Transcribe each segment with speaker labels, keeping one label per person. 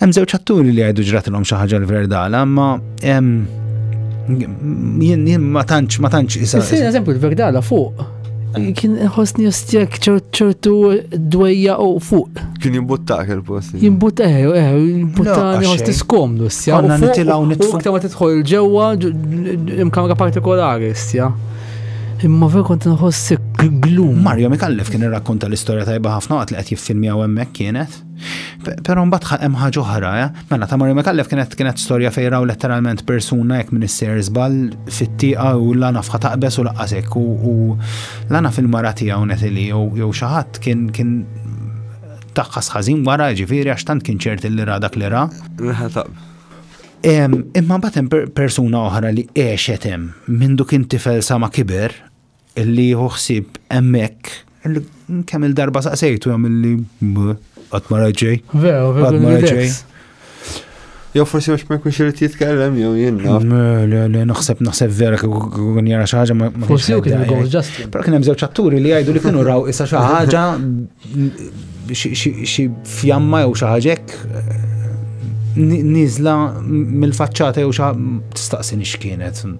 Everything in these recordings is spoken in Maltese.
Speaker 1: Hemm żewġ atturi li jgħidu ġratilhom xi ħaġa l-verdala, ma jien jien ma tantx ma tantx isa. Sir eżempju l-verdala
Speaker 2: fuq. Kien ħosni ostjak ċertu dwejja u fuq. Kien jimbuttak
Speaker 3: il-post. Jimbuttak, eh, eh,
Speaker 2: jimbuttani ħosni skomdu, stja. Għanna nitilaw nitfu.
Speaker 1: U ma titħol ġewa
Speaker 2: imkamra partikolari, stja. Imma ver kont nħossi glum. Mario Mikallef kien
Speaker 1: irrakkonta l-istorja tajba ħafna għat li qed jiffilmjaw hemmhekk kienet. Pero mbagħad hemm ħaġa oħra, eh? mela ta' Mario Mekallef kienet kienet storja fejn raw letteralment persuna jekk minn isser żball fit-tieqa u lana fħa taqbes u laqqasek u lana fil-mara tiegħu netili jew xi ħadd kien kien taqqas ħażin wara ġifieri għax tant kien ċert li ra dak li ra. Imma mbagħad hemm persuna oħra li għexet hemm minn duk intifel sa ma kiber Illi jieħu ħsieb hemmhekk kemm il-darba saqsejtu hemm illi qatt ma raġej. Vera, vera. ma
Speaker 2: raġej.
Speaker 3: Jew forsi għax ma jkunx irid jitkellem jew jien. Le, le, naħseb
Speaker 1: naħseb vera kun jara xi ħaġa ma. Forsi jew kien il-gowl
Speaker 2: ġast. Però kien hemm żewġ atturi li
Speaker 1: jgħidu li kienu raw issa xi ħaġa xi fjamma jew xi ħaġek niżla mill-faċċata jew xi tistaqsi x'kienet.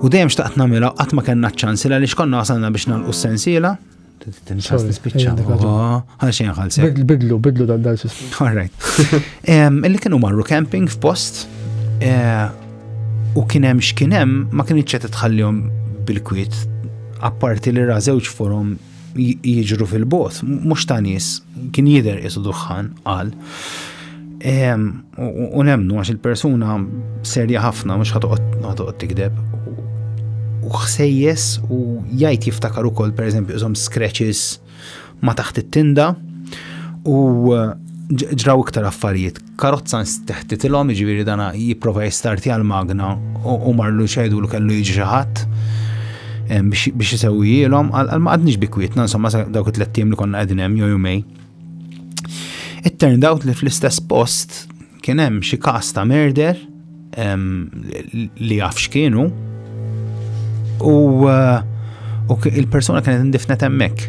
Speaker 1: U dejjem xtaqt namela, qatt ma kellna ċ-ċans li għaliex konna wasalna biex nagħlqu s-sensiela. Tinxas nispiċċa. Għal xejn ħalsi. Bidlu, bidlu dan dan
Speaker 2: sistem. All
Speaker 1: right. Illi kienu marru camping f'post eh, u kien hemm x'kien hemm ma kienx qed tħallihom bil-kwiet apparti li ra żewġ forum jiġru fil-bot, mhux ta' nies, kien jidher qisu duħħan qal. U nemnu għax il-persuna serja ħafna mhux ħatoqgħod tikdeb. U ħsejjes u jgħid jiftakar ukoll pereżempju iżhom scratches ma taħt it-tinda u ġraw iktar affarijiet karozza nsteħtitilhom, jiġifieri dana jipprova jistartja l-magna u marlu xedu li kellu jiġi xi ħadd biex isewwijilhom, għal ma għadniex bikwietna, insomma dawk it-tlet li konna qegħdin hemm jew jumej. It turned out li fl-istess post kien hemm xi każ ta' merder li jaf x'kienu u uh, il-persuna kienet indifnet hemmhekk.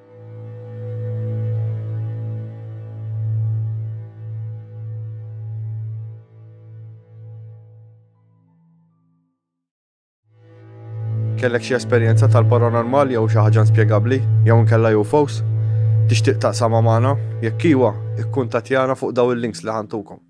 Speaker 3: Kellek xi esperjenza tal-paranormal jew xi ħaġa inspjegabbli jew inkella UFOs? Tixtieq taqsama magħna? Jekk iwa, ikkuntattjana fuq daw il-links li ħantukom.